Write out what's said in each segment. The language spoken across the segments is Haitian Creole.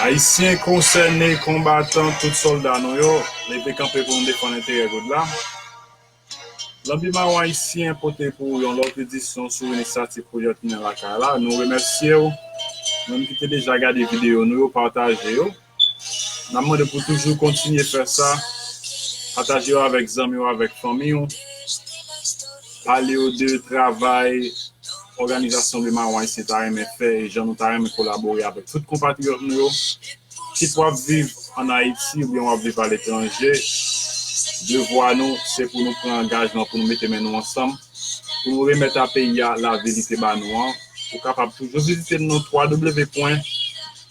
Ayisyen konsène, konbatan, tout sòlda nou yo, leve kanpe pou nou defann enterè goud la. Lanbi Mawon Ayisyen pote pou ou yon lòt edisyon sou Inisyativ Pwojè Tounen Lakay la. Nou remèsye ou menm ki te deja gade videyo nou yo, pataje yo. Nap mande pou toujou kontinye fè sa, pataje yo avèk zanmiw avèk fanmiw, pale yo de travay òganizasyon Le Maron Ayisyen ta renmen fè e jan nou ta renmen kolabore avèk tout konpatriyòt nou yo, kit wap viv an Ayiti oubyen wap viv aletranje, devwa nou se pou nou pran angajman pou nou mete men nou ansanm pou nou remèt a peyi a lavi li te ba nou an, ou kapab toujou vizite nou nan www.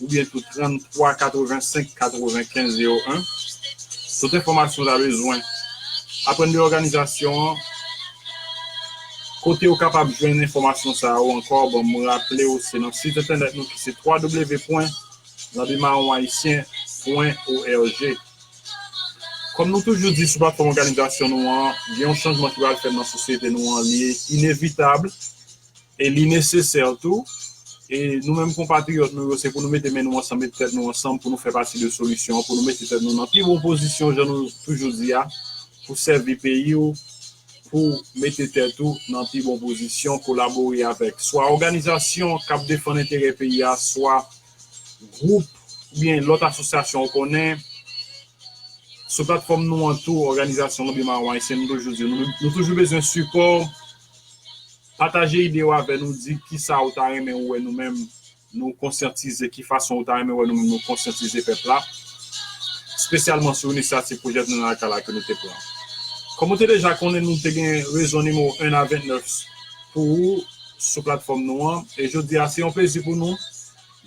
oubyen tou 33 85 95 01 Tout enfòmasyon ou ta bezwen Aprann de òganizasyon an Kote ou kapab jwenn enfòmasyon sa yo ankò bon m raple ou se nan sit entènèt nou ki se www.lanbimawonayisyen.org Kòm nou toujou di sou platfòm òganizasyon nou an gen yon chanjman ki pral fèt nan sosyete nou an li inevitab E li nesesè tou. E nou menm konpatriyòt nou yo, se pou nou mete men nou ansanm, mete tèt nou ansanm pou nou fè pati de solisyon an, pou nou mete tèt nou nan pi bon pozisyon jan nou toujou di a, pou sèvi peyi ou, pou mete tèt ou nan pi bon pozisyon, kolabore avèk swa òganizasyon k ap defann enterè peyi a, swa gwoup oubyen lòt asosyasyon ou konnen. Sou platfòm nou an tou, òganizasyon Lobi Maron Ayisyen, nou toujou di, nou toujou bezwen sipò ou. Pataje ide yo avè nou, di kisa ou ta renmen ou wè nou menm nou konsyantize, ki fason ou ta renmen wè nou menm nou konsyantize pèp la, spesyalman sou inisyativ pwojè Tndan nan lakay la ke nou te pran. Kòm ou te deja konnen nou te gen rezon nimewo 1 a 29 pou ou sou platfòm nou an, e jodi a se yon plezi pou nou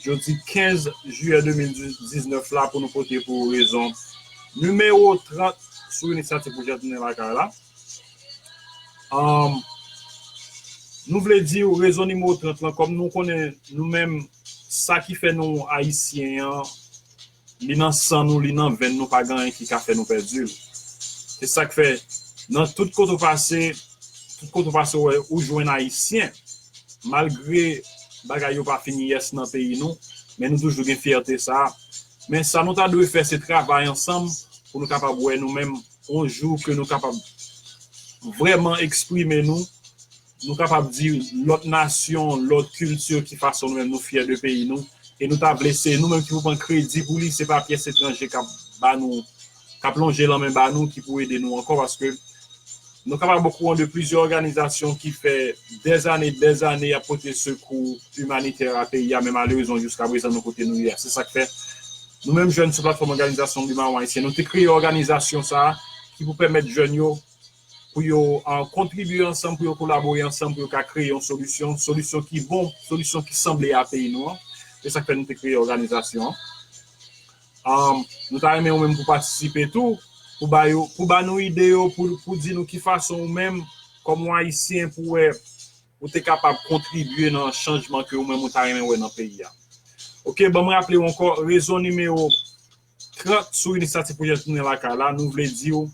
jodi 15 jiyè 2019 la pou nou pote pou ou rezon nimewo 30 sou inisyativ pwojè Tndan nan lakay la. Umm Nou vle diw rezon nimewo 30 lan kòm nou konnen nou menm sa ki fè nou ayisyen an li nan san nou li nan venn nou pa gen anyen ki ka fè nou pèdil se sak fè nan tout kote ou pase tout kote ou pase wè ou jwenn ayisyen malgre bagay yo pa fini yès nan peyi nou men nou toujou gen fyète sa men sa nou ta dwe fè se travay ansanm pou nou kapab wè nou menm yon jou ke nou kapab vrèman eksprime nou, nou kapab di lòt nasyon, lòt kilti ki fason nou menm nou fyè de peyi nou, e nou ta vle se nou menm ki pou pran kredi pou li, se pa pyès etranje k ap ba nou, k ap lonje lanmen ba nou ki pou ede nou ankò, paske nou kapab okouran de plizyè òganizasyon ki fè dèzane, dèzane y ap pote sekou imanitè a peyi a, men malerezman jiskaprezan nou kote nou ye a, se sa k fè Nou menm jèn sou Platfòm Òganizasyon Bi Mawon Ayisyen, nou te kreye òganizasyon sa a ki pou pèmèt jèn yo pou yo kontribye ansanm, pou yo kolabore ansanm, pou yo ka kreye yon solisyon, solisyon ki bon, solisyon ki sanble a peyi nou an. Se sa k fè nou te kreye òganizasyon an. Nou ta renmen ou menm pou patisipe tou, pou ba nou ide yo, pou di nou ki fason ou menm kòm yon Ayisyen pou wè. ou te kapab kontribye nan chanjman ke ou menm ou ta renmen wè nan peyi a. Ok, banm raplew ankò, rezon nimewo 30 sou inisyativ pwojè Tounen Lakay la, nou vle diw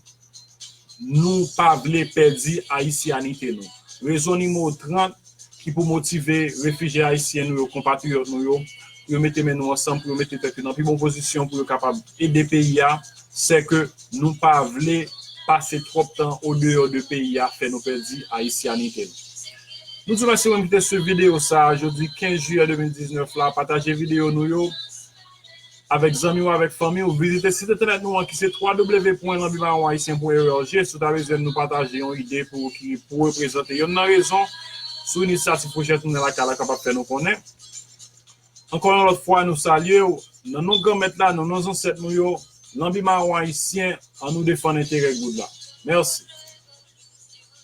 nou pa vle pèdi ayisyanite nou. Rezon nimewo 30 ki pou motive refijye ayisyen nou yo, konpatriyòt nou yo, pou yo mete men nou ansanm, pou yo mete tèt yo nan pi bon pozisyon pou yo kapab ede peyi a, sè ke nou pa vle pase twòp tan o deyò de peyi a fè nou pèdi ayisyanite nou. Nou di mèsi moun ki te swiv videyo sa a jodi 15 jiyè 2019 la, pataje videyo nou yo avèk zanmi w avèk fanmi w, vizite sit entènèt nou an ki se www.lanbimarronhaitien.org si w ta bezwen nou pataje yon ide pou ou ki pou reprezante yonn nan rezon sou inisyativ pwojè Tounen Lakay la kapab fè nou konnen. Ankò yon lòt fwa nou salye w, nan non Granmèt la, nan non zansèt nou yo, lanbi mawon ayisyen, an nou defann enterè goud la. Mèsi.